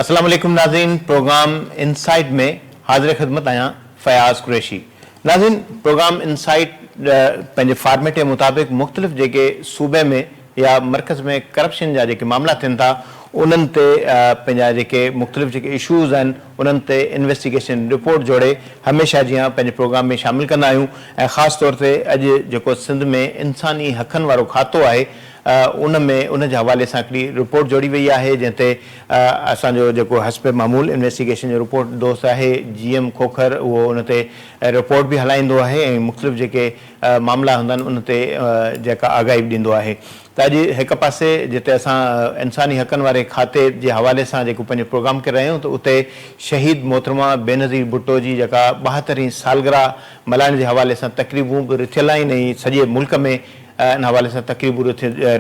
السلام عليڪم ناظرين پروگرام انسائيٽ ۾ حاضر خدمت آهيان فياض قريشي ناظرين پروگرام انسائيٽ پنهنجي فارميٽ مطابق مختلف جيڪي صوبي ۾ يا مرڪز ۾ ڪرپشن جا جيڪي معاملا ٿين ٿا انهن تي پنهنجا جيڪي مختلف جيڪي اشوز آهن انهن تي انويسٽيگيشن رپورٽ جوڙي هميشه جيان پنهنجي پروگرام ۾ شامل ڪندا آهيون ۽ خاص طور تي اڄ جيڪو سنڌ ۾ انساني حقن وارو کاتو آهي ان ۾ ان جي حوالي سان هڪڙي رپورٽ جوڙي وئي آهي جنهن تي اسان جو جيڪو حسب معمول انويسٽيگيشن جو رپورٽ دوست آهي جي ايم کوکر اهو ان تي رپورٽ به هلائيندو آهي ۽ مختلف جيڪي معاملا هوندا آهن ان تي جيڪا آگاهي به ڏيندو آهي ته اڄ هڪ پاسي جتي اسان انساني حقن واري کاتي جي حوالي سان جيڪو پنهنجو پروگرام ڪري رهيا آهيون ته اتي شهيد محترمه بينظير ڀٽو جي جيڪا ٻاهترهين سالگرهه ملهائڻ جي حوالي سان تقريبون به رٿيل آهن ۽ سڄي ملڪ ۾ ان حوالي سان تقريبون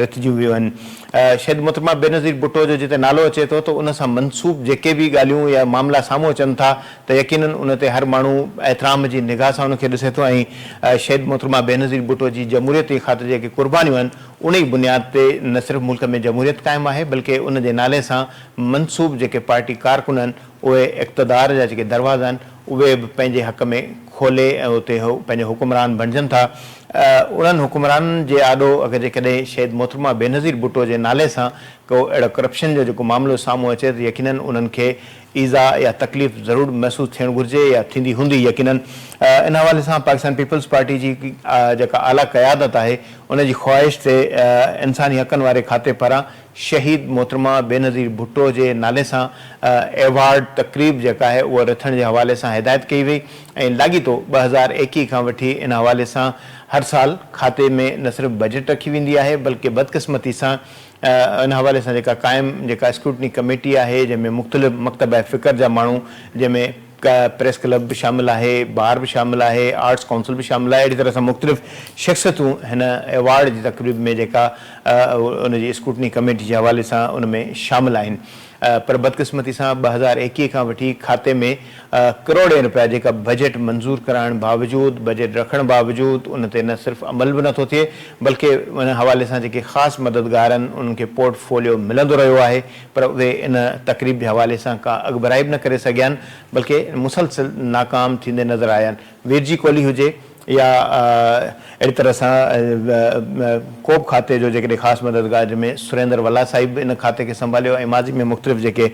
رٿجيون ويون آهن شهيد محترمه بينظير ڀٽو جو جتي نالو اچي ٿو ته ان سان منسوب جيڪي به ڳالهيون يا معاملا سامهون اچن ٿا ته يقينن ان تي هر ماڻهو احترام جي نگاهه سان ان کي ڏسي ٿو ۽ شهيد محترمه بينظير ڀٽو جي جمهوريت جي خاطر جيڪي قربانيون آهن ان ئي بنياد تي نه صرف ملڪ ۾ جمهوريت قائم آهي بلڪه ان جي نالي سان منسوب جيڪي پارٽي ڪارڪن آهن اهي اقتدار جا جيڪي دروازا آهن اهي به پنهنجي حق ۾ کولي ۽ اتي پنهنجا حڪمران بڻجن ٿا انهن حڪمرانن جي آڏو اگر جيڪڏهن شهيد محترمه بينظير ڀٽو جي نالي سان ڪو اهڙو ڪرپشن جو جيڪو معاملو سامهون اچي ته يقينن انهن کي ايذاء يا تڪليف ضرور محسوس ٿيڻ گهرجي يا ٿيندي هوندي يقينن ان حوالي سان پاڪستان پيپلز پارٽي جي جيڪا اعليٰ قيادت آهي ان جي خواهش تي انساني حقن واري کاتي پاران شهيد محترمه بينظير ڀٽو جي نالي سان ايوارڊ تقريب جيڪا آهي اهو رٿڻ جي حوالي سان هدايت ڪئي وئي ۽ لاڳيتو ٻه هزار ايڪيهه کان وٺي ان حوالي سان هر سال کاتي ۾ نه صرف بجيٽ رکي ويندي آهي بلڪه بدقسمتي سان ان حوالي سان جيڪا قائم جيڪا اسڪروٽني ڪميٽي آهي جنهن ۾ مختلف مڪتبه فڪر جا ماڻهو جنهن ۾ پريس ڪلب به شامل آهي، بار به شامل آهي، آرٽس ڪائونسل به شامل آهي اهڙي طرح سان مختلف شخصيتون هن ايوارڊ جي تقريب ۾ جيڪا ان جي اسڪروٽني ڪميٽي جي حوالي سان ان ۾ شامل آهن. پر بدقسمتي سان ٻه هزار ايڪيهه کان وٺي کاتي ۾ ڪروڙين رپيا جيڪا بجيٽ منظور ڪرائڻ باوجود بجيٽ رکڻ باوجود ان تي نه صرف عمل به نٿو ٿئي بلڪه ان حوالي سان جيڪي خاص مددگارن انهن کي پورٽ فوليو ملندو رهيو آهي پر اهي ان تقريب جي حوالي سان ڪا اڳڀرائي به نه ڪري سگهيان بلڪه مسلسل ناڪام ٿيندي نظر آيان ويرجي ڪولهي هجي يا اهڙي طرح سان ڪوبه کاتي جو جيڪڏهن خاص مددگار جنهن ۾ سريندر ولا صاحب به ان کاتي کي سنڀاليو ۽ ماضي ۾ مختلف جيڪي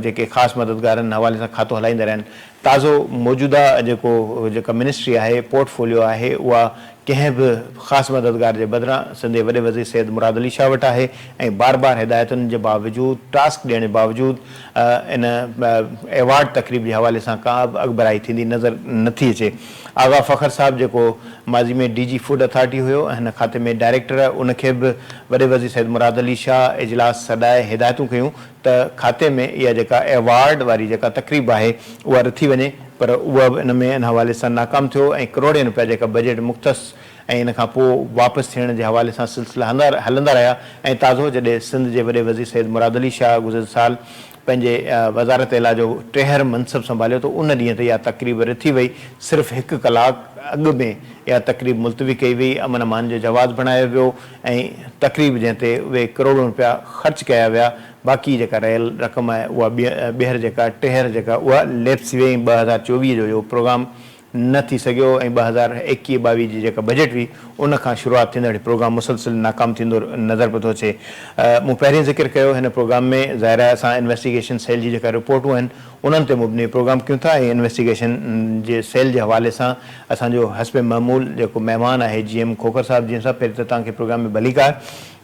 جيڪي خاص مددگارن حوالي سان کاتو هلائيندا رهيا آهن تازو موجوده جيڪو جيڪا منسٽري آهي پورٽ فوليو آهي اها ڪنهن به خاص مددگار جي بدران سنڌي وڏي وزير سيد مراد علي شاهه وٽ آهي ۽ بار بار هدايتن جي باوجود ٽاسڪ ڏيڻ جي باوجود ان ايوارڊ تقريب جي حوالي سان ڪابه اڳڀرائي ٿيندي نظر نٿي اچي آغا فخر صاحب جيڪو ماضي ۾ ڊي جي فوڊ اٿارٽي هيو ۽ هن کاتي ۾ ڊائريڪٽر ان کي به وڏي وزير سيد مراد علي شاهه اجلاس سڏائي هدايتون ڪيون ته کاتي ۾ اها جيڪا ايوارڊ واري جيڪا تقريب آهي اها رٿي وڃي پر اهو به ان ۾ ان حوالي سان ناڪام ٿيو ۽ ڪروڙين روپيا جيڪا بجيٽ مختص ۽ ان کان پوء واپس ٿيڻ جي حوالي سان سلسلا هلندا رهيا ۽ تازو جڏهن سنڌ جي وڏي وزير سيد مراد علي شاهه گذريل سال پنهنجي وزارت اعليٰ جو ٽيهر منصب سنڀاليو ته ان ڏينهن تي اها تقريب رٿي وئي، صرف هڪ ڪلاڪ اڳ ۾ اها تقريب ملتوي ڪئي وئي، امن امان جو جواز بڻايو ويو ۽ تقريب جنهن تي اهي ڪروڙون رپيا خرچ ڪيا ويا، باقي جيڪا رهيل رقم آهي اها ٻيهر جيڪا ٽيهر جيڪا اها ليپس ٿي وئي ۽ ٻه هزار چوويهه جو اهو پروگرام نه ٿي سگهيو ۽ ٻه هزار ايڪيهه ٻاويهه جي جيڪا بجيٽ هئي ان کان شروعات ٿيندڙ هي پروگرام مسلسل ناڪام ٿيندو نظر پيو ٿو اچي مون پهرين ذڪر ڪيو هن پروگرام ۾ ظاهر آهي اسان انويسٽيگيشن سيل جي جيڪا رپورٽون آهن انهن تي مبني پروگرام ڪيون ٿا ۽ انويسٽيگيشن جي سيل جي حوالي سان اسان جو حسب معمول جيڪو مهمان آهي جي ايم کوکر صاحب جنهن سان پهرين ته توهان کي پروگرام ۾ ڀليڪار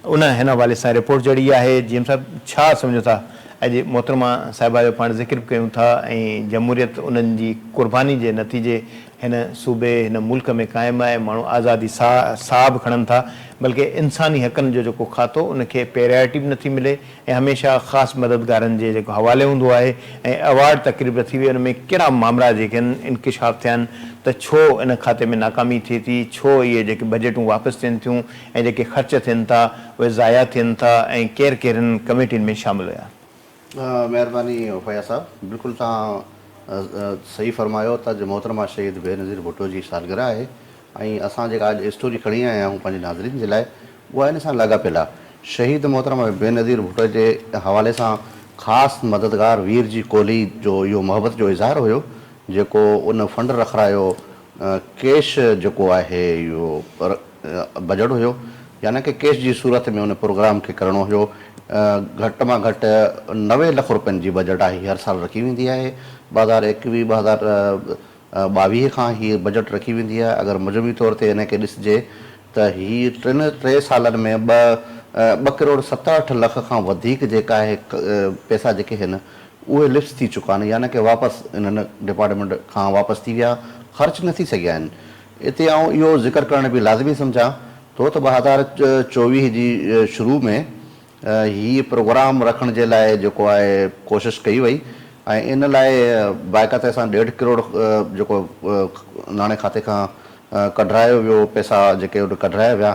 ان هن حوالي سان رپورٽ جڙي آهي. جي ايم صاحب ڇا سمجهو ٿا اڄ محترمه صاحبه جو پاڻ ذڪر به ڪيون ٿا ۽ جمهوريت انهن جي قرباني جي نتيجي هن صوبي هن ملڪ ۾ قائم آهي ماڻهو آزادي سا ساهه به کڻن ٿا بلڪه انساني حقن جو جيڪو کاتو ان کي پيرائرٽي به نٿي ملي ۽ هميشه خاص مددگارن جي جيڪو حوالي هوندو آهي ۽ ايوارڊ تقريب به ٿي وئي ان ۾ ڪهڙا مامرا جيڪي آهن انڪشاف ٿيا آهن ته ڇو ان کاتي ۾ ناڪامي ٿئي ٿي ڇو اهي جيڪي بجيٽون واپس ٿين ٿيون ۽ جيڪي خرچ ٿين ٿا اهي ضايع ٿين ٿا ۽ ڪير ڪير هنن ڪميٽين ۾ شامل هيا. مهرباني وفايا صاحب بلڪل توهان صحيح فرمايو ته اڄ محترمه شهيد بينظير ڀٽو جي سالگرهه آهي ۽ اسان جيڪا اڄ اسٽوري کڻي آيا آهيون پنهنجي ناظرين جي لاء اها ان سان لاڳاپيل آهي شهيد محترمه بينظير ڀٽو جي حوالي سان خاص مددگار وير جي ڪولهي جو اهو محبت جو اظهار هيو جيڪو ان فنڊ رکرايو ڪيش جيڪو آهي اهو بجٽ هيو يعني ڪه ڪيش جي صورت ۾ ان پروگرام کي ڪرڻو هيو گهٽ مان گهٽ نوي لک روپين جي بجٽ آهي هر سال رکي ويندي آهي ٻه هزار ايڪويهه ٻه هزار ٻاويهه کان هي بجٽ رکي ويندي آهي اگر مجموعي طور تي ان کي ڏسجي ته هي ٽن ٽي سالن ۾ ٻه ٻه ڪروڙ ست اٺ لک کان وڌيڪ جيڪا آهي پئسا جيڪي هن اهي لفس ٿي چڪا آهن يعني ڪه واپس انهن ڊپارٽمينٽ کان واپس ٿي ويا خرچ نه ٿي سگهيا آهن اتي آئون اهو ذڪر ڪرڻ به لازمي سمجهان ٿو ته ٻه هزار چوويهه جي شروع ۾ هي پروگرام رکڻ جي لاء جيڪو آهي ڪوشش ڪئي وئي ۽ ان لاء باقاعتي سان ڏيڍ ڪروڙ جيڪو ناڻي کاتي کان ڪڍرايو ويو پئسا جيڪي ان ڪڍرايا ويا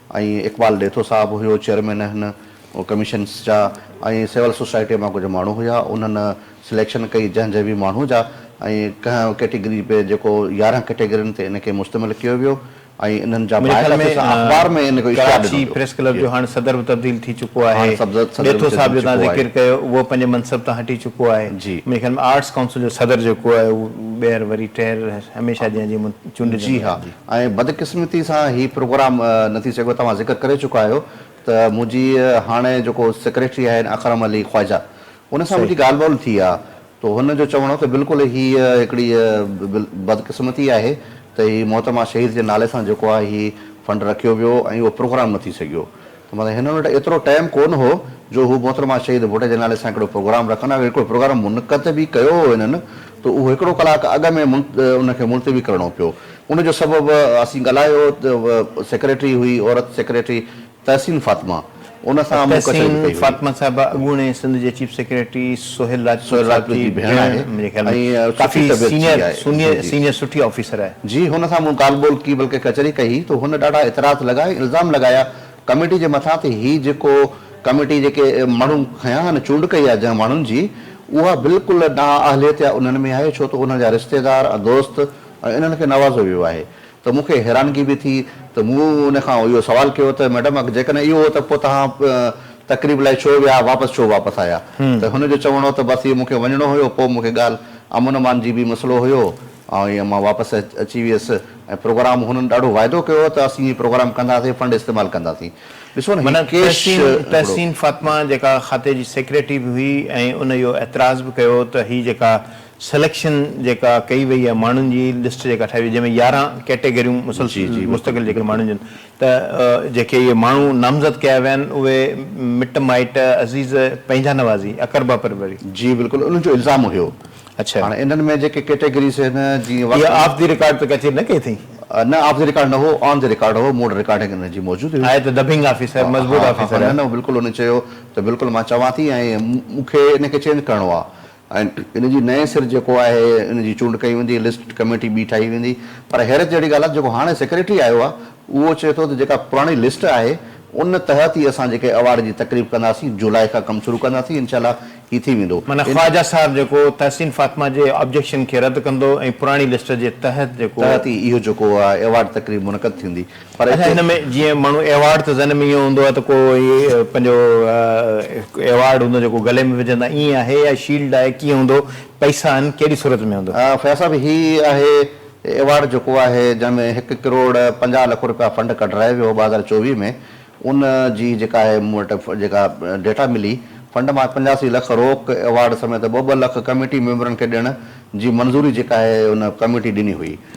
۽ اقبال ڏيٿو صاحب هيو چيئرمين هن ڪميشنس جا ۽ سول سوسائٽيء مان ڪجهه ماڻهو هيا انهن سليڪشن ڪئي جنهن جي به ماڻهو جا ۽ ڪنهن ڪيٽيگري به جيڪو يارهن ڪيٽيگرين تي ان کي مشتمل ڪيو ويو ۽ انهن جا منهنجي خيال ۾ اخبار ۾ ان جو اشتهار ڏنو ڪراچي ويو پريس ڪلب جو هاڻ صدر به تبديل ٿي چڪو آهي هاڻ صدر به ڏيٿو تبديل صاحب ٿي جو توهان چڪو آهي ذڪر ڪيو اهو پنهنجي منصب تان هٽي چڪو آهي جي منهنجي خيال ۾ آرٽس ڪائونسل جو صدر جيڪو آهي اهو ٻيهر وري ٽيهر هميشه جيان جي چونڊجندو جي ها رهندي ۽ بدقسمتي سان هي پروگرام نه ٿي سگهيو توهان ذڪر ڪري چڪا آهيو ته منهنجي هاڻي جيڪو سيڪريٽري آهن اڪرم علي خواجه ان سان منهنجي ڳالهه ٻولهه ٿي آ تو هن جو چوڻ هو ته بلڪل هي هڪڙي بدقسمتي آهي ته هي محترمه شهيد جي نالي سان جيڪو آهي هي فنڊ رکيو ويو ۽ اهو پروگرام نه ٿي سگهيو مطلب هنن وٽ ايترو ٽائيم ڪونه هو جو هو محترمه شهيد ڀٽ جي نالي سان هڪڙو پروگرام رکن اگر هڪڙو پروگرام منعقد به ڪيو هو هنن ته اهو هڪڙو ڪلاڪ اڳ ۾ ان کي ملتوي ڪرڻو پيو ان جو سبب اسين ڳالهايو ته سيڪريٽري هئي عورت سيڪريٽري تحسين فاطمه ان سان مون ڪچهري به ڪئي هئي. تحسين فاطمه صاحبه اڳوڻي سنڌ جي چيف سيڪريٽري سهيل راجپوت جي ڀيڻ آهي ۽ ڪافي سينئر سٺي آفيسر آهي. جي هن سان مون ڳالهه ٻولهه ڪئي بلڪه ڪچهري ڪئي هئي ته هن ڏاڍا اعتراض لڳايا ۽ الزام لڳايا ڪميٽي جي مٿان ته هي جيڪو ڪميٽي جيڪي ماڻهو کنيا آهن چونڊ ڪئي آهي جنهن ماڻهن جي اها بلڪل نااهليت يا انهن ۾ آهي ڇو ته انهن جا رشتيدار ۽ دوست ۽ انهن کي نوازو ويو آهي ته مون کي حيرانگي به ٿي ته مون ان کان اهو سوال ڪيو ته ميڊم اگر جيڪڏهن اهو هو ته پوء توهان تقريب لاء ڇو ويا واپس ڇو واپس آيا ته هن جو چوڻ هو ته بس اهو مون کي وڃڻو هيو پوء مون کي ڳالهه امن امان جي به مسئلو هيو ۽ مان واپس اچي ويس ۽ پروگرام هنن ڏاڍو واعدو ڪيو هو ته اسين هي پروگرام ڪنداسين فنڊ استعمال ڪنداسين ڏسو نه هي ڪيش معنيٰ تحسين فاطمه جيڪا کاتي جي سيڪريٽري به هئي ۽ ان اهو اعتراض به ڪيو ته هي جيڪا سليڪشن جيڪا ڪئي وئي آهي ماڻهن جي لسٽ جيڪا ٺاهي وئي جنهن ۾ يارهن ڪيٽيگريون مسلسل مستقل جيڪي ماڻهن جون ته جيڪي اهي ماڻهو نامزد ڪيا ويا آهن اهي مٽ مائٽ عزيز پنهنجا نوازي اقربا پروري. جي بلڪل انهن جو الزام هيو. اڇا. هاڻي انهن ۾ جيڪي ڪيٽيگريز هن جي واقعي. اها آف دي رڪارڊ ته ڪچهري نه ڪئي اٿئي. نه آف دي رڪارڊ نه هو آن دي رڪارڊ هو مون وٽ رڪارڊنگ انهن جي موجود هئي. آهي ته دبنگ آفيسر مضبوط آفيسر آهي. نه نه بلڪل انهن چيو ته بلڪل مان چوان ٿي ۽ مون کي ان کي چينج ڪرڻو آهي. ۽ ان جي نئين سر جيڪو آهي ان جي چونڊ ڪئي ويندي، لسٽ ڪميٽي ٻي ٺاهي ويندي، پر حيرت جهڙي ڳالهه آهي ته جيڪو هاڻي سيڪريٽري آيو آهي اهو چئي ٿو ته جيڪا پراڻي لسٽ آهي ان تحت ئي اسان جيڪي ايوارڊ جي تقريب ڪنداسين، جولاء کان ڪم شروع ڪنداسين انشاء الله هي ٿي ويندو. معنيٰ خواجه صاحب جيڪو تحسين فاطمه جي آبجيڪشن کي رد ڪندو ۽ پراڻي لسٽ جي تحت جيڪو. تحت ئي اهو جيڪو ايوارڊ تقريب منعقد ٿيندي. پر اچا هن ۾ جيئن ماڻهو ايوارڊ ته ذهن ۾ ايئن هوندو آهي ته ڪو پنهنجو ايوارڊ هوندو جيڪو گلي ۾ وجهندا ايئن آهي يا شيلڊ آهي ڪيئن هوندو پئسا آهن ڪهڙي صورت ۾ هوندو. فياض صاحب هي آهي ايوارڊ جيڪو آهي جنهن ۾ هڪ ڪروڙ پنجاهه لک رپيا فنڊ ڪڍرايو ويو هو ٻه هزار چوويهه ۾ ان جي جيڪا آهي مون وٽ جيڪا ڊيٽا ملي فنڊ مان پنجاسي لک روڪ ايوارڊ سميت ٻه ٻه لک ڪميٽي ميمبرن کي ڏيڻ جي منظوري جيڪا آهي ان ڪميٽي ڏني هئي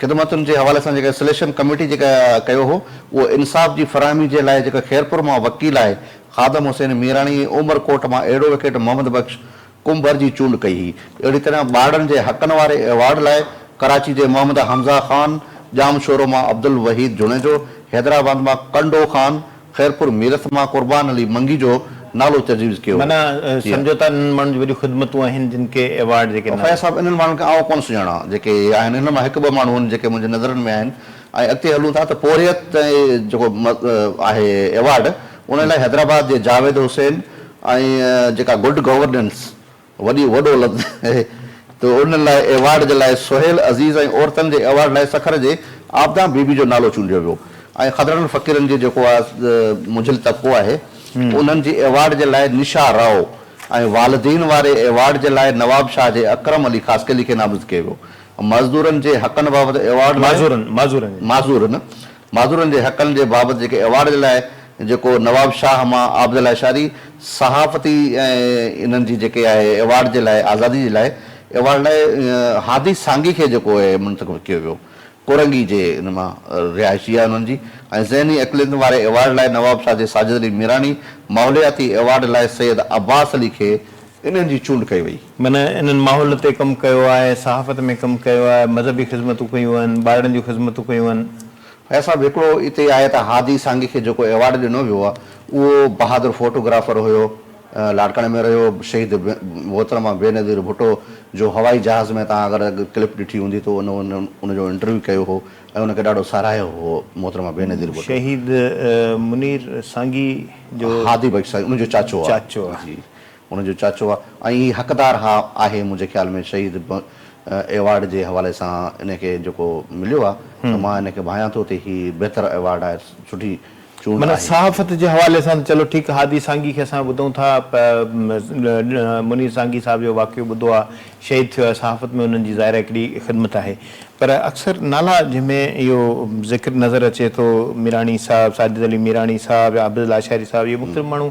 خدمتن جي حوالي سان جيڪا سليڪشن ڪميٽي جيڪا ڪيو هو اهو انصاف جي فراهمي جي لاء جيڪا خيرپور مان وڪيل آهي خادم حسين ميراڻي ۽ عمر ڪوٽ مان ايڊووڪيٽ محمد بخش ڪنڀر جي چونڊ ڪئي هئي اهڙي طرح ٻارڙن جي حقن واري ايوارڊ لاء ڪراچي جي محمد حمزه خان ڄامشورو مان عبدالوحيد جوڻيجو حيدرآباد مان ڪنڊو خان خيرپور ميرٿ مان قربان علي منگي جو نالو تجويز ڪيو هو. معنيٰ سمجهو ٿا انهن ماڻهن جون وڏيون خدمتون آهن جن کي ايوارڊ جي ڪن. فياض صاحب انهن ماڻهن کي آئون ڪونه سڃاڻان جيڪي هي آهن انهن مان هڪ ٻه ماڻهو آهن جيڪي منهنجي نظرن ۾ آهن ۽ اڳتي هلون ٿا ته پورهيت تي جيڪو آهي ايوارڊ ان لاء حيدرآباد جي جاويد حسين ۽ جيڪا گڊ گورننس وڏي وڏو لفظ اهي ته ان لاء ايوارڊ جي لاء سهيل عزيز ۽ عورتن جي ايوارڊ لاء سکر جي عابده بي بي جو نالو چونڊيو ويو ۽ خضرڙن فقيرن جي جيڪو آ منجهيل طبقو آهي انهن جي ايوارڊ جي لاء نشا رائو ۽ والدين واري ايوارڊ جي لاء نواب شاهه جي اڪرم علي خاصخيلي کي نامزد ڪيو ويو مزدورن جي حقن بابت ايوارڊ لاء معذورن معذورن معذورن جي حقن جي بابت جيڪي ايوارڊ جي لاء جيڪو نواب شاهه مان عابد الله اشاري صحافتي ۽ انهن جي جيڪي آهي ايوارڊ جي لاء آزادي جي لاء ايوارڊ لاء هادي سانگي کي جيڪو آهي منتخب ڪيو ويو ڪورنگي جي ان مان رهائشي آهي انهن جي ۽ ذهني اقليتن واري ايوارڊ لاء نواب شاهه جي ساجد علي ميراڻي ماحولياتي ايوارڊ لاء سيد عباس علي کي انهن جي چونڊ ڪئي وئي. من انهن ماحول تي ڪم ڪيو آهي، صحافت ۾ ڪم ڪيو آهي، مذهبي خدمتون ڪيون آهن، ٻارڙن جون خدمتون ڪيون آهن. هيء سڀ هڪڙو اتي آهي ته هادي سانگي کي جيڪو ايوارڊ ڏنو ويو آهي اهو بهادر فوٽو گرافر هيو، لاڙڪاڻي ۾ رهيو، شهيد محترمه بينظير ڀٽو جو هوائي جهاز ۾ تهان اگر ڪلپ ڏٺي هوندي ته ان ان جو انٽرويو ڪيو هو ۽ ان کي ڏاڍو ساراهيو هو محترمه بينظير ڀٽو. شهيد منير سانگي جو هادي بخش سانگي ان جو چاچو آهي. هن جو چاچو آ ۽ هي حقدار ها آهي منهنجي خيال ۾ شهيد ب ايوارڊ جي حوالي سان ان کي جيڪو مليو آ ته مان ان کي ڀانيان ٿو ته هي بهتر ايوارڊ آهي سٺي چونڊ معنيٰ آهي. صحافت جي حوالي سان ته چلو ٺيڪ آ هادي سانگي کي اسان ٻڌون ٿا پ منير سانگي صاحب جو واقعو ٻڌو آ شهيد ٿيو آهي صحافت ۾ انهن جي ظاهر آ هڪڙي خدمت آهي پر اڪثر نالا جنهن ۾ اهو ذڪر نظر اچي ٿو ميراڻي صاحب ساجد علي ميراڻي صاحب يا عابد لاشاري صاحب اهي مختلف ماڻهو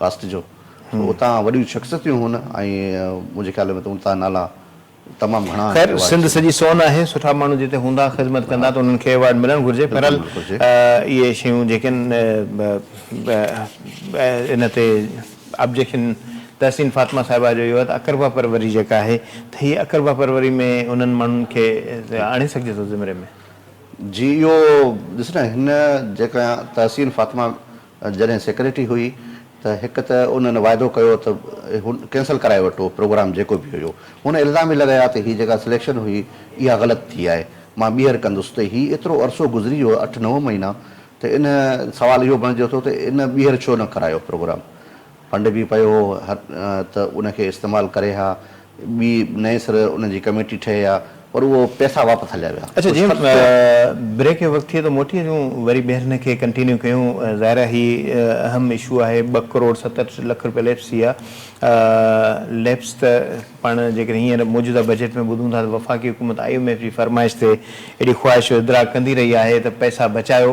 ڪاسٽ جو سو اتان وڏيون شخصيتيون هون ۽ منهنجي خيال ۾ ته اتان نالا تمام گهڻا آهن خير ايوارڊ سنڌ سڄي سون آهي سٺا ماڻهو جتي هوندا خدمت ڪندا ته انهن کي ايوارڊ ملڻ گهرجي بلڪل بهرحال ملڻ گهرجي. اهي شيون جيڪي آهن ان تي آبجيڪشن تحسين فاطمه صاحبه جو اهو آهي ته اقربا پروري جيڪا آهي ته هي اقربا پروري ۾ انهن ماڻهن کي آڻي سگهجي ٿو زمري ۾. جي اهو ڏس نه هن جيڪا تحسين فاطمه جڏهن سيڪريٽري هئي ته هڪ ته انهن واعدو ڪيو ته ڪينسل ڪرائي وٺو پروگرام جيڪو به هيو هن الزام به لڳايا ته هي جيڪا سليڪشن هئي اها غلط ٿي آهي مان ٻيهر ڪندس ته هي ايترو عرصو گذري ويو اٺ نو مهينا ته ان سوال اهو بڻجي اٿو ته ان ٻيهر ڇو نه ڪرايو پروگرام فنڊ به پيو هو ته ان کي استعمال ڪري ها، ٻي نئين سر ان جي ڪميٽي ٺهي ها پر اهو پئسا واپس هليا ويا. اچا جي بريڪ جو وقت ٿئي ته موٽي اچون وري ٻيهر هن کي ڪنٽينيو ڪيون ظاهر آهي هي اهم اشو آهي ٻه ڪروڙ ستهٺ لک روپيا ليپس ٿي ويا ليپس ته پاڻ جيڪڏهن هينئر موجوده بجيٽ ۾ ٻڌون ٿا ته وفاقي حڪومت آئي ايم ايف جي فرمائش تي اهڙي خواهش جو ادراڪ ڪندي رهي آهي ته پئسا بچايو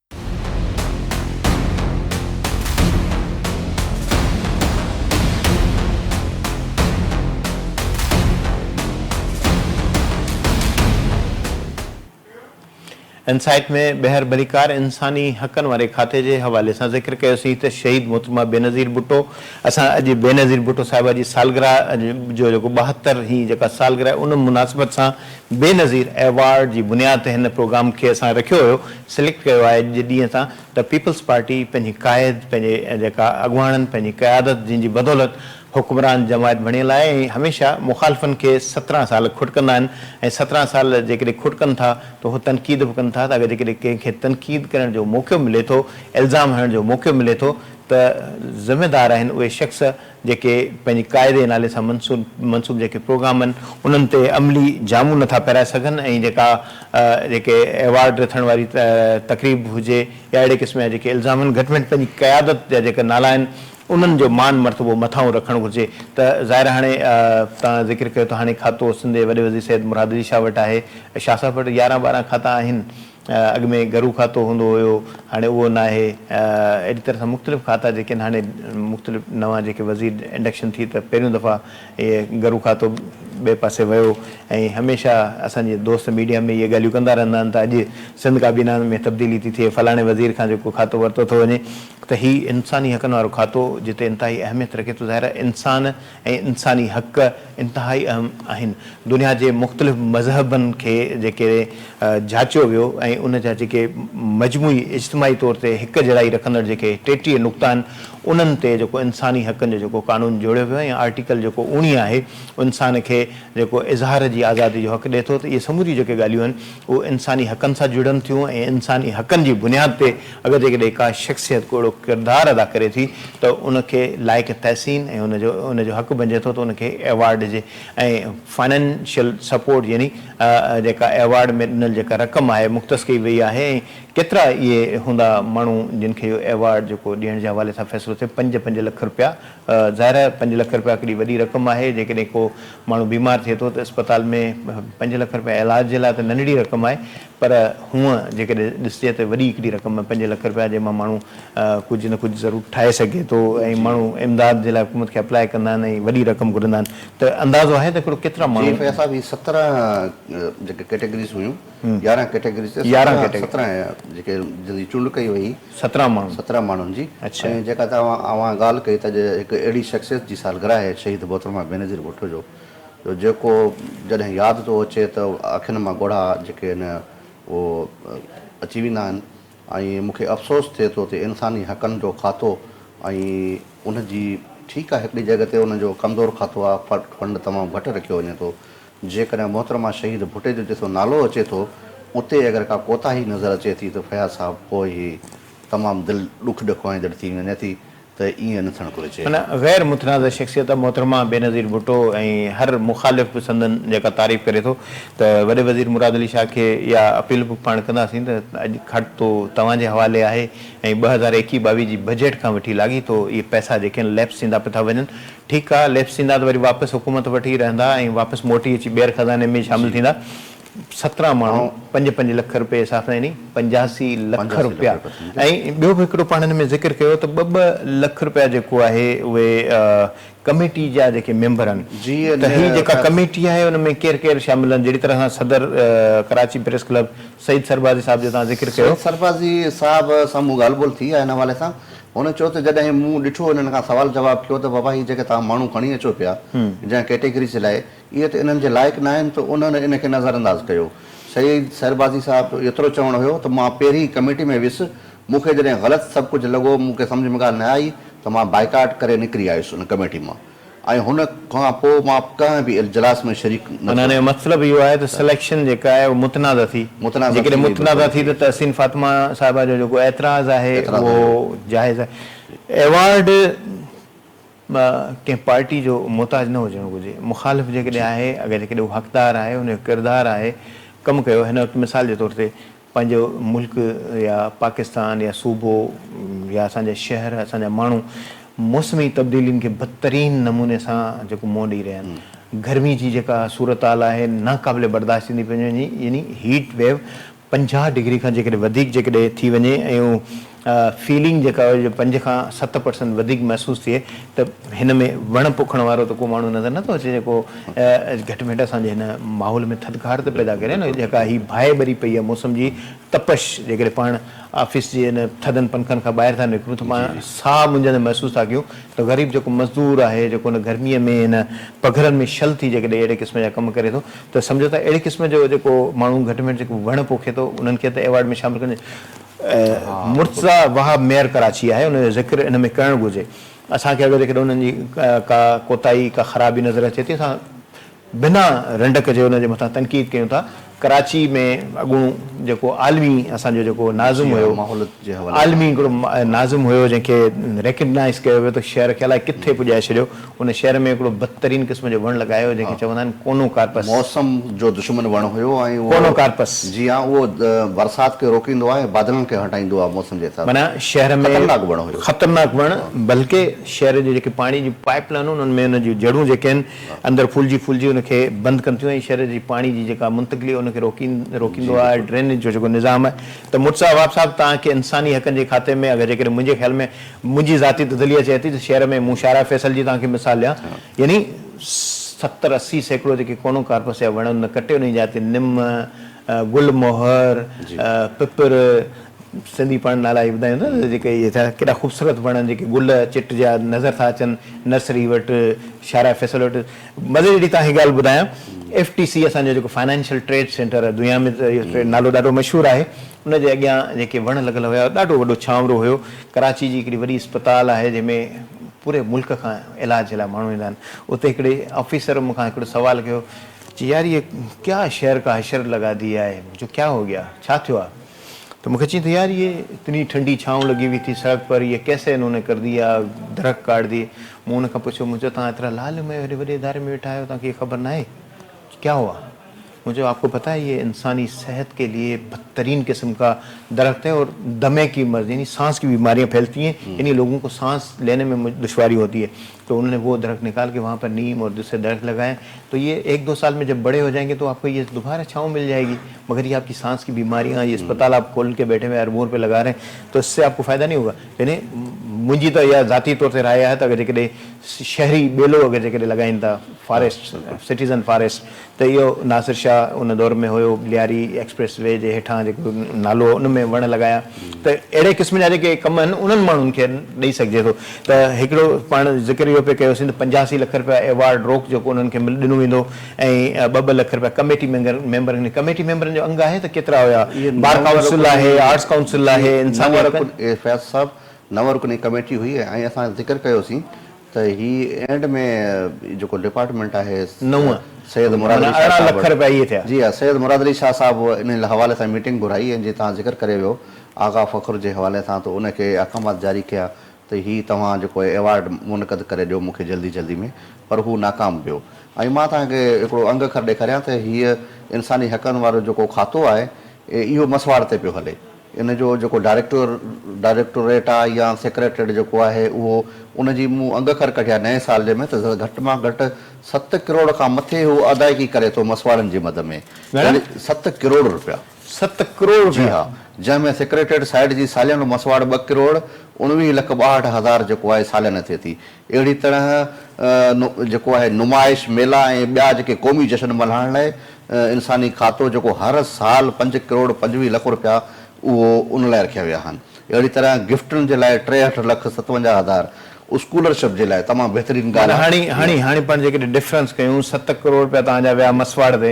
ان سائيٽ ۾ ٻيهر ڀليڪار انساني حقن واري کاتي جي حوالي سان ذڪر ڪيوسين ته شهيد محترمه بينظير ڀٽو اسان اڄ بينظير ڀٽو صاحبه جي سالگرهه جو جيڪو ٻاهتر هين جيڪا سالگرهه ان مناسبت سان بينظير ايوارڊ جي بنياد تي هن پروگرام کي اسان رکيو هيو، سليڪٽ ڪيو آهي اڄ جي ڏينهن تان ته پيپلز پارٽي پنهنجي قائد پنهنجي جيڪا اڳواڻن پنهنجي قيادت جن جي بدولت حڪمران جماعت بڻيل آهي ۽ هميشه مخالفن کي سترهن سال کٽڪندا آهن ۽ سترهن سال جيڪڏهن کٽڪن ٿا ته هو تنقيد به ڪن ٿا ته اگر جيڪڏهن ڪنهن کي تنقيد ڪرڻ جو موقعو ملي ٿو الزام هڻڻ جو موقعو ملي ٿو ته ذميدار آهن اهي شخص جيڪي پنهنجي قاعدي نالي سان منسوب جيڪي پروگرام آهن انهن تي عملي جامون نٿا پهرائي سگهن ۽ جيڪا جيڪي ايوارڊ رٿڻ واري تقريب هجي يا اهڙي قسم جا جيڪي الزام آهن گهٽ ۾ گهٽ پنهنجي قيادت جا جيڪا نالا آهن انهن جو مان مرتبو مٿانهون رکڻ گهرجي ته ظاهر هاڻي توهان ذڪر ڪيو ته هاڻي کاتو سنڌ جي وڏي وزير سيد مراد علي شاهه وٽ آهي شاهه صاحب وٽ يارهن ٻارهن کاتا آهن اڳ ۾ گهرو کاتو هوندو هيو هاڻي اهو ناهي اهڙي طرح سان مختلف کاتا جيڪي آهن هاڻي مختلف نوان جيڪي وزير انڊڪشن ٿي ته پهريون دفعا اهي گهرو کاتو ٻئي پاسي ويو ۽ هميشه اسان جي دوست ميڊيا ۾ اهي ڳالهيون ڪندا رهندا آهن ته اڄ سنڌ ڪابينا ۾ تبديلي ٿي ٿئي فلاڻي وزير کان جيڪو کاتو ورتو ٿو وڃي ته هي انساني حقن وارو کاتو جتي انتهائي اهميت رکي ٿو ظاهر آهي انسان ۽ انساني حق انتهائي اهم آهن. دنيا جي مختلف مذهبن کي جيڪڏهن جاچيو ويو ۽ ان جا جيڪي مجموعي اجتماعي طور تي هڪ جهڙائي رکندڙ جيڪي ٽيٽيهه نقطا آهن انهن تي جيڪو انساني حقن جو جيڪو قانون جوڙيو ويو ۽ آرٽيڪل جيڪو اوڻيهه آهي انسان کي جيڪو اظهار جي آزادي جو حق ڏئي ٿو ته اهي سموريون جيڪي ڳالهيون آهن اهي انساني حقن سان جڙن ٿيون ۽ انساني حقن جي بنياد تي اگر جيڪڏهن ڪا شخصيت ڪو اهڙو ڪردار ادا ڪري ٿي ته ان کي لائق تحسين ۽ ان جو ان جو حق بنجي ٿو ته ان کي ايوارڊ ڏجي ۽ فنانشل سپورٽ يعني جيڪا ايوارڊ ۾ ڏنل جيڪا رقم آهي مختص ڪئي وئي آهي ۽ ڪيترا اهي هوندا ماڻهو جن کي اهو ايوارڊ جيڪو ڏيڻ جي حوالي سان فيصلو ٿئي پنج پنج لک رپيا ظاهر آهي پنج لک رپيا ڪيڏي وڏي رقم آهي جيڪڏهن ڪو ماڻهو بيمار ٿئي ٿو ته اسپتال ۾ پنج لک رپيا علاج جي لاء ته ننڍڙي رقم آهي پر هونئن جيڪڏهن ڏسجي ته وڏي هڪڙي رقم پنج لک رپيا جنهن مان ماڻهو ڪجهه نه ڪجهه ضرور ٺاهي سگهي ٿو ۽ ماڻهو امداد جي لاء حڪومت کي اپلاء ڪندا آهن ۽ وڏي رقم گهرندا آهن ته اندازو آهي ته هڪڙو ڪيترا ماڻهو. جي فياض صاحب هي سترهن جيڪي ڪيٽيگريز هيون يارهن ڪيٽيگريز تي سترهن جيڪي جن جي چونڊ ڪئي وئي سترهن ماڻهن سترهن ماڻهن جي ۽ جيڪا توهان اوهان ڳالهه ڪئي ته هڪ اهڙي شخصيت جي سالگرهه آهي شهيد محترمه بينظير ڀٽو جو جو جيڪو جڏهن ياد ٿو اچي ته اکين مان ڳوڙها جيڪي آهن اهو اچي ويندا آهن ۽ مون کي افسوس ٿئي ٿو ته انساني حقن جو کاتو ۽ ان جي ٺيڪ آهي هڪڙي جڳهه تي ان جو ڪمزور کاتو آهي فنڊ تمام گهٽ رکيو وڃي ٿو جيڪڏهن محترمه شهيد ڀٽي جو جتو نالو اچي ٿو اتي اگر ڪا ڪوتاهي نظر اچي ٿي ته فياض صاحب پوء هي تمام دل ڏک ڏکوائيندڙ ٿي وڃي ٿي ته ائين نه ٿيڻ گهرجي. ان غير متنازع شخصيت محترمه بينظير ڀٽو ۽ هر مخالف به سندن جيڪا تعريف ڪري ٿو ته وڏي وزير مراد علي شاهه کي اها اپيل به پاڻ ڪنداسين ته اڄ کٽ تو توهان جي حوالي آهي ۽ ٻه هزار ايڪيهه ٻاويهه جي بجيٽ کان وٺي لاڳيتو اهي پئسا جيڪي آهن ليپس ٿيندا پتا وڃن ٺيڪ آهي ليپس ٿيندا ته وري واپس حڪومت وٽ ئي رهندا ۽ واپس موٽي اچي ٻيهر خزاني ۾ شامل ٿيندا سترهن ماڻهو پنج پنج لک رپيا جي صافن يعني پنجاسي لک رپيا ۽ ٻيو به هڪڙو پاڻ هن ۾ ذڪر ڪيو ته ٻه ٻه لک رپيا جيڪو آهي اهي ڪميٽي جا جيڪي ميمبر آهن ته هي جيڪا ڪميٽي آهي ان ۾ ڪير ڪير شامل آهن جهڙي طرح سان صدر ڪراچي پريس ڪلب سيد سربازي صاحب جو توهان ذڪر ڪيو. سيد سربازي صاحب سان مون ڳالهه ٻولهه ٿي آهي ان حوالي سان هن چيو ته جڏهن مون ڏٺو هنن کان سوال جواب ٿيو ته بابا هي جيڪي توهان ماڻهو کڻي اچو پيا جنهن ڪيٽيگري جي لاء اهي ته انهن جي لائق ناهن ته انهن ان کي نظرانداز ڪيو. سيد سربازي صاحب جو ايترو چوڻ هيو ته مان پهرين ئي ڪميٽي ۾ ويس، مون کي جڏهن غلط سڀ ڪجهه لڳو، مون کي سمجهه ۾ ڳالهه نه آئي ته مان بائيڪاٽ ڪري نڪري آيس ان ڪميٽي مان ۽ هن کان پوء مان ڪنهن به اجلاس ۾ شريڪ نه ٿيو. معنيٰ ان جو مطلب اهو آهي ته سليڪشن جيڪا آهي اها متنازع ٿي، جيڪڏهن متنازع ٿي ته تحسين فاطمه صاحبه جو جيڪو اعتراض آهي اهو جائز آهي. ايوارڊ. ڪنهن پارٽي جو محتاج نه هجڻ گهرجي. مخالف جيڪڏهن آهي، اگر جيڪڏهن هو حقدار آهي، ان جو ڪردار آهي، ڪم ڪيو، هن وقت مثال جي طور تي پنهنجو ملڪ يا پاڪستان يا صوبو يا اسان جا شهر، اسان جا ماڻهو موسمي تبديلين کي بدترين نموني سان جيڪو منهن ڏئي رهيا آهن. گرمي جي جيڪا صورتحال آهي، ناقابل برداشت ٿيندي پئي وڃي، يعني هيٽ ويو پنجاهه ڊگري کان جيڪڏهن وڌيڪ جيڪڏهن ٿي وڃي ۽ فيلنگ جيڪا هئي جو پنج کان ست پرسنٽ وڌيڪ محسوس ٿئي ته هن ۾ وڻ پوکڻ وارو ته ڪو ماڻهو نظر نٿو اچي جيڪو گهٽ ۾ گهٽ اسان جي هن ماحول ۾ ٿڌڪار ته پيدا ڪري نه جيڪا هي باهه ٻري پئي آهي موسم جي تپش جيڪڏهن پاڻ آفيس جي ان ٿڌن پنکن کان ٻاهر ٿا نڪرون ته پاڻ ساهه منجهندڙ محسوس ٿا ڪيون ته غريب جيڪو مزدور آهي جيڪو ان گرمي ۾ ان پگهرن ۾ شل ٿي جيڪڏهن اهڙي قسم جا ڪم ڪري ٿو ته سمجهو ته اهڙي قسم جو جيڪو ماڻهو گهٽ ۾ گهٽ جيڪو وڻ پوکي ٿو انهن کي ته ايوارڊ ۾ شامل ڪرڻ مرتضيٰ وهاب ميئر ڪراچي آهي ان جو ذڪر ان ۾ ڪرڻ گهرجي اسان کي اگر جيڪڏهن انهن جي ڪا ڪوتاهي ڪا خرابي نظر اچي ٿي اسان بنا رنڊڪ جي انهن جي مٿان تنقيد ڪيون ٿا ڪراچي ۾ اڳوڻو جيڪو عالمي اسان جو جيڪو ناظم هيو عالمي هڪڙو ناظم هيو جنهن کي ريڪگنائز ڪيو ويو ته شهر کي الائي ڪٿي پڄائي ڇڏيو ان شهر ۾ هڪڙو بدترين قسم جو وڻ لڳايو هو، جنهن کي چوندا آهن ڪونو ڪارپس. موسم جو دشمن وڻ هيو ۽ اهو ڪونو ڪارپس. جي ها اهو برسات کي روڪيندو آهي ۽ بادلن کي هٽائيندو آهي موسم جي حساب معنيٰ سان شهر ۾ خطرناڪ وڻ هيو. خطرناڪ وڻ بلڪه شهر جي جيڪي پاڻي جون پائيپ لائنون انهن ۾ ان جون جڙون جيڪي آهن اندر ڦولجي ڦولجي ان کي بند ڪن ٿيون ۽ شهر جي پاڻي جي جيڪا منتقلي ان کي روڪي روڪيندو آهي ڊرينيج جو جيڪو نظام آهي ته مرزا وهاب صاحب توهان کي انساني حقن جي کاتي ۾ اگر جيڪڏهن منهنجي خيال ۾ منهنجي ذاتي تذليه چئي ٿي ته شعر ۾ مون شاعره فيصل جي توهان کي مثال ڏيان يعني ستر اسي سيڪڙو جيڪي ڪونو ڪارپس يا وڻ نه ڪٽي انهي جاء تي نم، گل موهر، پپر، سنڌي پاڻ نالا اهي ٻڌايون ٿا ته جيڪي اهي ٿا ڪيڏا خوبصورت وڻ جيڪي گل چٽ جا نظر ٿا اچن نرسري وٽ شاعره فيصل وٽ مزي جي ڏي توهان کي ڳالهه ٻڌايان ايف ٽي سي اسان جو جيڪو فائنانشل ٽريڊ سينٽر دنيا ۾ نالو ڏاڍو مشهور آهي ان جي اڳيان جيڪي وڻ لڳل هيا ڏاڍو وڏو ڇانورو هيو. ڪراچي جي هڪڙي وڏي اسپتال آهي جنهن ۾ پوري ملڪ کان علاج جي لاء ماڻهو ايندا آهن. اتي هڪڙي آفيسر مون کان هڪڙو سوال ڪيو. چي يار هيء ڪيا شهر ڪا حشر لڳا دي آهي جو ڪيا هو گيا ڇا ٿيو آهي ته مون کي چين ته يار هيء اتني ٺنڊي ڇانو لڳي هئي ٿي سڙڪ پر هيء ڪيسي انهون ني ڪر ديا درخت ڪاٽ ديئي. مون ان کان پڇيو مون چيو توهان ايترا لعل مئي هيڏي وڏي اداري ۾ ويٺا آهيو توهان کي هيء خبر ناهي ڪيا هوا مون چيو آپ ڪو پتا هي يه انساني صحت ڪي ليي بدترين قسم ڪا درخت هي اور دمي ڪي مرض يعني سانس ڪي بيماريان ڦيلتي هين يعني لوگون ڪو سانس ليني مي دشواري هوتي هي تو انهون ني وو درخت نڪال ڪي وهان پر نيم اور دوسري درخت لگايا تو يه ايڪ دو سال مي جب بڙي هو جاينگي تو آپ ڪو يه دوباره ڇائون مل جائي گي مگر يه آپ ڪي سانس ڪي بيماريان يه اسپتال آپ کول ڪي بيٺي هوئي اربون روپي لگا رهي هين تو اس سي آپ ڪو فائده نهين هوگا يعني منهنجي ته اها ذاتي طور تي راء آهي ته اگر جيڪڏهن شهري ٻيلو اگر جيڪڏهن لگائين ٿا فاريسٽ سٽيزن فاريسٽ ته اهو ناصر شاهه ان دور ۾ هيو، لياري ايڪسپريس وي جي هيٺان جيڪو نالو هو ان ۾ وڻ لڳايا ته اهڙي قسم جا جيڪي ڪم آهن انهن ماڻهن کي ڏئي سگهجي ٿو ته هڪڙو پاڻ ذڪر اهو پي ڪيوسين ته پنجاسي لک رپيا ايوارڊ روڪ جيڪو انهن کي ڏنو ويندو ۽ ٻه ٻه لک رپيا ڪميٽي ميمبرن کي ڪميٽي ميمبرن جو انگ آهي ته ڪيترا هيا بار ڪائونسل آهي آرٽس ڪائونسل آهي انساني حقن فياض صاحب نو رڪني ڪميٽي هئي ۽ اسان ذڪر ڪيوسين ته هي اينڊ ۾ جيڪو ڊپارٽمينٽ آهي نو سيد مراد علي شاهه صاحب معنيٰ ارڙهن لک رپيا اهي ٿيا. جي ها سيد مراد علي شاهه صاحب ان حوالي سان ميٽنگ گهرائي ۽ جي تان ذڪر ڪري ويو آغا فخر جي حوالي سان ته ان کي احڪامات جاري ڪيا ته هي توهان جيڪو ايوارڊ منعقد ڪري ڏيو مون کي جلدي جلدي ۾ پر هو ناڪام ويو ۽ مان توهان کي هڪڙو انگ اکر ڏيکاريان ته هي انساني حقن وارو جيڪو کاتو آهي اهو مسواڙ تي پيو هلي. ان جو جيڪو ڊائريڪٽر ڊائريڪٽوريٽ آ يا سيڪريٽريٽ جيڪو آهي اهو ان جي مون انگ خر ڪڍيا نئين سال جي ۾ ته گهٽ مان گهٽ ست ڪروڙ کان مٿي هو ادائگي ڪري ٿو مسواڙن جي مد ۾ گهڻا؟ ست ڪروڙ رپيا ست ڪروڙ جي رپيا ها جنهن ۾ سيڪريٽريٽ سائيڊ جي ساليانو مسواڙ ٻه ڪروڙ اڻويهه لک ٻاهٺ هزار جيڪو آهي ساليانه ٿئي ٿي. اهڙي طرح جيڪو آهي نمائش، ميلا ۽ ٻيا جيڪي قومي جشن ملهائڻ لاء انساني کاتو جيڪو هر سال پنج ڪروڙ پنجويهه لک رپيا اهو ان لاء رکيا ويا آهن. اهڙي طرح گفٽن جي لاء ٽيهٺ لک ستونجاهه هزار اسڪولرشپ جي لاء تمام بهترين ڳالهه آهي. معنيٰ هاڻي هاڻي هاڻي پاڻ جيڪڏهن ڊفرنس ڪيون ست ڪروڙ رپيا توهان جا ويا مسواڙ تي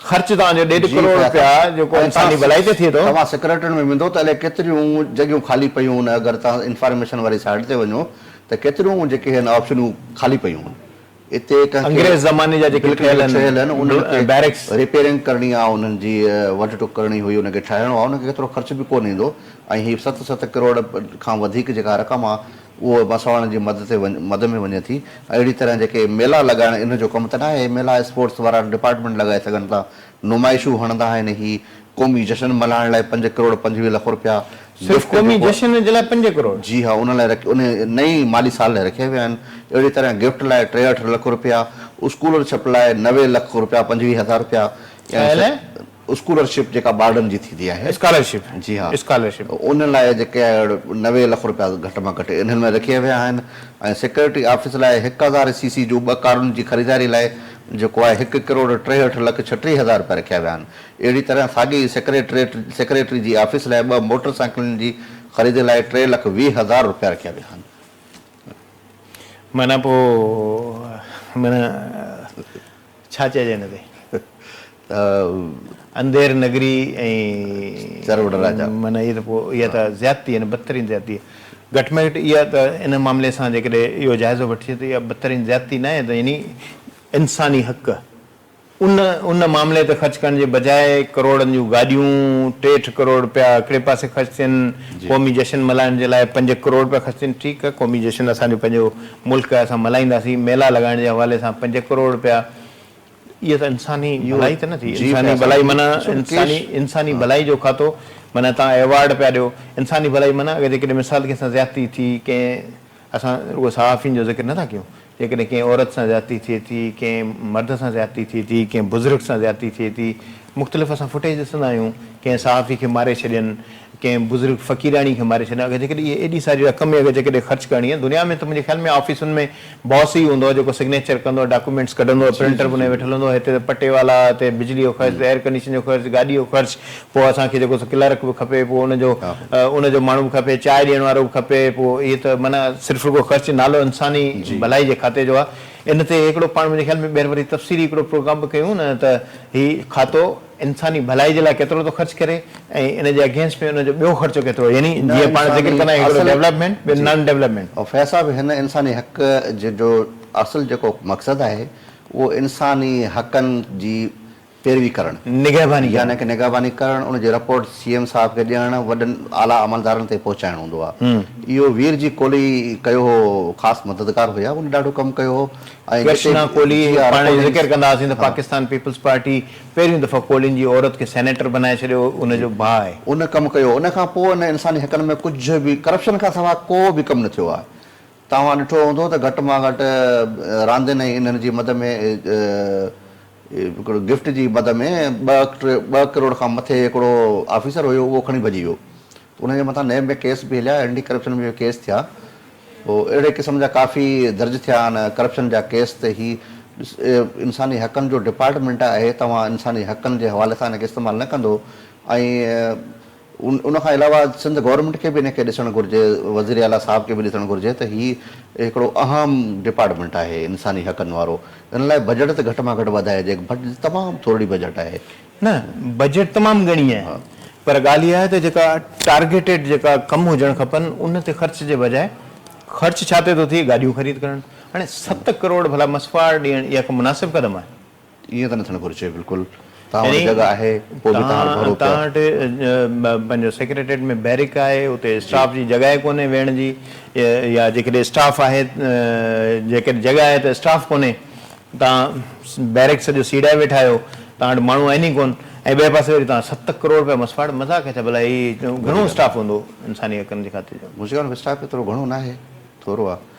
خرچ توهان جو ڏيڍ جي ڪروڙ رپيا قياطا! جيڪو اگر انساني توهان ڀلائي تي ٿئي ٿو. توهان سيڪريٽريٽ ۾ ويندو ته الائي ڪيتريون جڳهيون خالي پيون هن اگر توهان انفارميشن واري سائيٽ تي وڃو ته ڪيتريون جيڪي هن آپشنون خالي پيون هن اتي ڪنهن کي انگريز زماني جا جيڪي بلڪ ٺهيل جيڪي ٺهيل هن انهن آهن کي بيرڪس. ريپيرنگ ڪرڻي آهي انهن جي وڍ ٽڪ ڪرڻي هئي انهن کي ٺاهڻو آهي انهن کي ڪيترو خرچ به ڪونه ايندو ۽ هي ست ست ڪروڙ کان وڌيڪ جيڪا رقم آهي اهو مسواڙن جي مد تي مد ۾ وڃي ٿي. اهڙي طرح جيڪي ميلا لڳائڻ ان جو ڪم ته ناهي، ميلا اسپورٽس وارا ڊپارٽمينٽ لڳائي سگهن ٿا، نمائشون هڻندا آهن، هي قومي جشن ملهائڻ لاء پنج ڪروڙ پنجويهه لک رپيا صرف قومي جشن جي لاء پنج ڪروڙ؟ جي ها ان لاء ان نئين مالي سال لاء رکيا ويا آهن، اهڙي طرح گفٽ لاء ٽيهٺ لک رپيا، اسڪولر شپ لاء نوي لک رپيا پنجويهه هزار رپيا ٺهيل اسڪولرشپ جيڪا ٻارڙن جي ٿيندي آهي. اسڪالرشپ جي ها اسڪالرشپ. ان لاء جيڪي اهڙ نوي لک روپيا گهٽ مان گهٽ انهن ۾ رکيا ويا آهن ۽ سيڪريٽري آفيس لاء هڪ هزار سي سي جون ٻه ڪارن جي خريداري لاء جيڪو آهي هڪ ڪروڙ ٽيهٺ لک ڇٽيهه هزار روپيا رکيا ويا آهن اهڙي طرح ساڳي ئي سيڪريٽريٽ سيڪريٽري جي آفيس لاء ٻه موٽر سائيڪلن جي خريدي لاء ٽي لک ويهه هزار روپيا رکيا ويا آهن. معنيٰ پوء معنيٰ ڇا چئجي هن تي. انڌير نگري ۽. معنيٰ اهي ته پوء اها ته زيادتي آهي نه بدترين زيادتي آهي. گهٽ ۾ گهٽ اها ته ان معاملي سان جيڪڏهن اهو جائزو وٺجي ته اها بدترين زيادتي ناهي ته يعني انساني حق ان ان معاملي تي خرچ ڪرڻ جي بجاء ڪروڙن جون گاڏيون ٽيهٺ ڪروڙ رپيا هڪڙي پاسي خرچ ٿين قومي جشن ملهائڻ جي لاء پنج ڪروڙ رپيا خرچ ٿين ٺيڪ آهي قومي جشن اسان جو پنهنجو ملڪ آهي اسان ملهائينداسين ميلا لڳائڻ جي حوالي سان پنج ڪروڙ رپيا اهو ته انساني ڀلائي ته نه ٿي. انساني ڀلائي معنيٰ انساني انساني ڀلائي جو کاتو معنيٰ تان ايوارڊ پيا ڏيو انساني ڀلائي معنيٰ اگر جيڪڏهن مثال ڪنهن سان زيادتي ٿي ڪنهن اسان رڳو صحافين جو ذڪر نٿا ڪيون جيڪڏهن ڪنهن عورت سان زيادتي ٿئي ٿي ڪنهن مرد سان زيادتي ٿئي ٿي ڪنهن بزرگ سان زيادتي ٿئي ٿي مختلف اسان فوٽيج ڏسندا آهيون ڪنهن صحافي کي ماري ڇڏين ڪنهن بزرگ فقيراڻي کي ماري ڇڏين اگر جيڪڏهن اهي ايڏي ساري رقم اگر جيڪڏهن خرچ ڪرڻي آهي دنيا ۾ ته منهنجي خيال ۾ آفيسن ۾ باس ئي هوندو جيڪو سگنيچر ڪندو ڊاڪومينٽس ڪڍندو پرنٽر به انهي ويٺل هوندو هتي ته پٽي والا هتي بجلي جو خرچ ايئر ڪنڊيشن جو خرچ گاڏي جو خرچ پوء اسان کي جيڪو سو ڪلرڪ به کپي پوء ان جو ان جو ماڻهو به کپي چاء ڏيڻ وارو به کپي پوء اهي ته معنيٰ صرف رڳو خرچ نالو انساني ڀلائي جي کاتي جو آهي ان تي هڪڙو پاڻ منهنجي خيال ۾ ٻيهر وري تفصيلي هڪڙو پروگرام به ڪيون نه ته هي کاتو انساني ڀلائي جي لاء ڪيترو ٿو خرچ ڪري ۽ ان جي اگينسٽ ۾ ان جو ٻيو خرچو ڪيترو يعني جيئن پاڻ ذڪر ڪندا آهيون هڪڙو ڊيولپمينٽ ٻيو نان ڊيولپمينٽ. فيض صاحب هن انساني حق جو اصل جيڪو مقصد آهي اهو انساني حقن جي پيروي ڪرڻ، نگهباني يعني ڪه نگهباني ڪرڻ، ان جي رپورٽ سي ايم صاحب کي ڏيڻ، وڏن اعليٰ عملدارن تائين پهچائڻ هوندو آ. اهو وير جي ڪولهي ڪيو هو، خاص مددگار هيا، هن ڏاڍو ڪم ڪيو هو ۽ جتي به ڪولهي پاڻ جو ذڪر ڪنداسين ته پاڪستان پيپلز پارٽي پهريون دفعو ڪولهين جي عورت کي سينيٽر بنائي ڇڏيو هو، ان جو ڀاء آهي. ان ڪم ڪيو هو، ان کان پوء هن انساني حقن ۾ ڪجهه به ڪرپشن کان سواء ڪو به ڪم نه ٿيو آ، توهان ڏٺو هوندو ته گهٽ مان گهٽ راندين ۽ انهن جي مد ۾ هڪڙو گفٽ جي مد ۾ ٻه ڪروڙ کان مٿي هڪڙو آفيسر هيو اهو کڻي ڀڄي ويو ته ان جي مٿان نيب ۾ ڪيس به هليا اينٽي ڪرپشن ۾ به ڪيس ٿيا پوء اهڙي قسم جا ڪافي درج ٿيا آهن ڪرپشن جا ڪيس ته هي انساني حقن جو ڊپارٽمينٽ آهي توهان انساني حقن جي حوالي سان ان کي استعمال نه ڪندو ۽ ان کان علاوه سنڌ گورنمينٽ کي به ان کي ڏسڻ گهرجي، وزير اعليٰ صاحب کي به ڏسڻ گهرجي ته هي هڪڙو اهم ڊپارٽمينٽ آهي انساني حقن وارو، ان لاء بجيٽ ته گهٽ مان گهٽ وڌائجي، بجيٽ تمام ٿورڙي بجيٽ آهي. نه بجيٽ تمام گهڻي آهي پر ڳالهه اها آهي ته جيڪا ٽارگيٽيڊ جيڪا ڪم هجڻ کپن ان تي خرچ جي بجاء خرچ ڇا تي ٿو ٿئي گاڏيون خريد ڪرڻ هاڻي ست ڪروڙ ڀلا مصفاء ڏيڻ اها ڪا مناسب قدم آهي؟ ائين ته نه ٿيڻ گهرجي بلڪل توهان وٽ جڳهه آهي پوء به توهان ڀرو پيا. توهان وٽ پنهنجو سيڪريٽريٽ ۾ بيرڪ آهي اتي اسٽاف جي جڳهه ئي ڪونهي ويهڻ جي يا جيڪڏهن اسٽاف آهي جيڪڏهن جڳهه آهي ته اسٽاف ڪونهي توهان بيرڪ سڄو سيڙائي ويٺا آهيو توهان وٽ ماڻهو آهن ئي ڪون ۽ ٻئي پاسي وري توهان ست ڪروڙ رپيا مسواڙ مذاق ڇا ڀلا هي گهڻو اسٽاف هوندو انساني حقن جي خاطر جو. مون چيو اسٽاف ايترو گهڻو ناهي ٿورو آهي.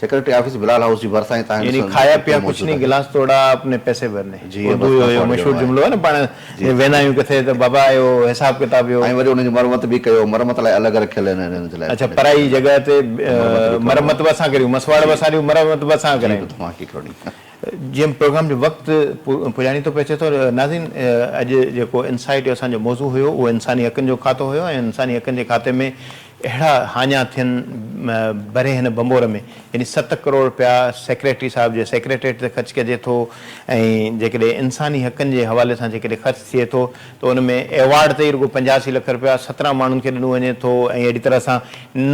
سيڪريٽري آفيس بلال هائوس جي ڀرسان ئي تاهين ڏسڻ ۾ ڪيترو موجود آهي. گلاس توڙا اپني پئسي ڀر ني. جي اهي اردو جو اهو مشهور جملو آهي نه پاڻ جي ويندا آهيون ڪٿي ته بابا اهو حساب ڪتاب جو. ۽ وري انهن جي مرمت به ڪيو مرمت لاء الڳ رکيل آهن انهن جي لاء. اڇا پرائي جڳهه تي مرمت به اسان ڪريون مسواڙ به اسان ڏيون مرمت به اسان ڪرايون. جي به توهان کي کرڻي آهي. جيئن پروگرام جو وقت پڄاڻي ٿو پئي اچي ٿو ناظرين اڄ جيڪو انسائيٽ جو اسان جو موضوع هيو اهو انساني حقن جو کاتو هيو ۽ انساني حقن جي کاتي ۾ اهڙا هاڃا ٿين ڀري هن ڀنڀور ۾، يعني ست ڪروڙ رپيا سيڪريٽري صاحب جي سيڪريٽريٽ تي خرچ ڪجي ٿو ۽ جيڪڏهن انساني حقن جي حوالي سان جيڪڏهن خرچ ٿئي ٿو ته ان ۾ ايوارڊ تي ئي رڳو پنجاسي لک رپيا سترهن ماڻهن کي ڏنو وڃي ٿو ۽ اهڙي طرح سان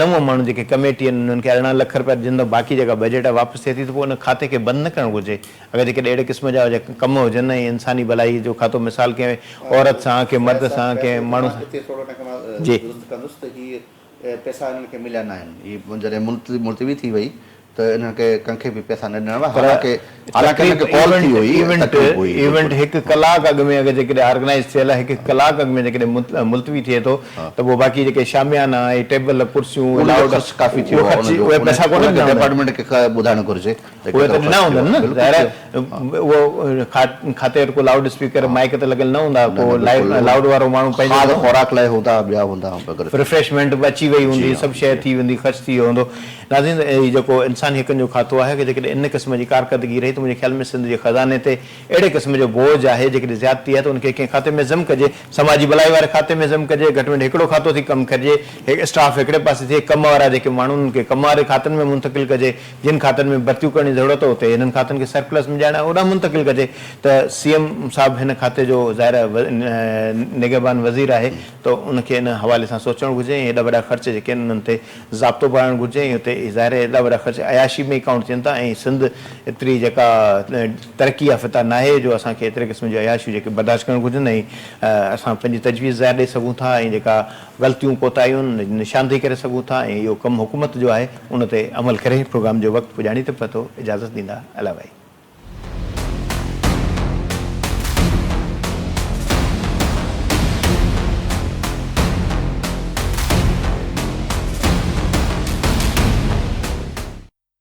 نو ماڻهو جيڪي ڪميٽي آهن انهن کي ارڙهن لک رپيا جن تان باقي جيڪا بجيٽ آهي واپس ٿئي ٿي ته پوء ان کاتي کي بند نه ڪرڻ گهرجي اگر جيڪڏهن اهڙي قسم جا ڪم هجن ۽ انساني ڀلائي جو کاتو مثال ڪنهن عورت سان، ڪنهن مرد سان، ڪنهن ماڻهو سان، جي. پر ايونٽ ايونٽ هڪ ڪلاڪ اڳ ۾ اگر جيڪڏهن آرگنائيز ٿيل آهي، هڪ ڪلاڪ اڳ ۾ جيڪڏهن ملتوي ٿئي ٿو ته پوء باقي جيڪي شاميانا ۽ ٽيبل ڪرسيون ۽ لاؤڊ اهو خرچ اهي پئسا ڪونه ڏنا ويندا. اهي ته ڏنا هوندن نه ظاهر آهي اهو کاتي وٽ ڪو لائوڊ اسپيڪر مائڪ ته لڳل نه هوندا ڪو لائوڊ وارو ماڻهو پنهنجو کاڌ خوراڪ لاء هوندا ٻيا هوندا ريفريشمينٽ به اچي وئي هوندي سڀ شيء ٿي ويندي خرچ ٿي ويو هوندو ناظرين هي جيڪو انساني حقن جو کاتو آهي اگر جيڪڏهن ان قسم جي ڪارڪردگي رهي ته منهنجي خيال ۾ سنڌ جي خزاني تي اهڙي قسم جو بوجھ آهي جيڪڏهن زيادتي آهي ته ان کي ڪنهن کاتي ۾ ضم ڪجي سماجي ڀلائي واري کاتي ۾ ضم ڪجي گهٽ ۾ گهٽ هڪڙو کاتو ٿي ڪم ڪرجي اسٽاف هڪڙي پاسي ٿئي ڪم وارا جيڪي ماڻهو انهن کي ڪم واري کاتن ۾ منتقل ڪجي جن کاتن ۾ ڀرتيون ڪرڻ جي ضرورت اتي هنن کاتن کي سرپلس ۾ ڏيارڻ ۽ اوڏانهن منتقل ڪجي ته سي ايم صاحب هن کاتي جو ظاهر آهي نگهبان وزير آهي ته ان کي ان حوالي سان سوچڻ گهرجي ۽ ايڏا وڏا خرچ جيڪي آهن انهن تي ضابطو پائڻ گهرجي ۽ اتي ظاهر آهي ايڏا وڏا خرچ عياشي ۾ ئي ڪائونٽ ٿين ٿا ۽ سنڌ ايتري جيڪا ترقي يافته ناهي جو اسان کي ايتري قسم جون عياشيون جيڪي برداشت ڪرڻ گهرجن ۽ اسان پنهنجي تجويز ظاهر ڏئي سگهون ٿا ۽ جيڪا غلطيون ڪوتاهيون نشاندهي ڪري سگهون ٿا ۽ اهو ڪم حڪومت جو آهي ان تي عمل ڪري پروگرام جو وقت پڄاڻي تي پتو اجازت ڏيندا علائي.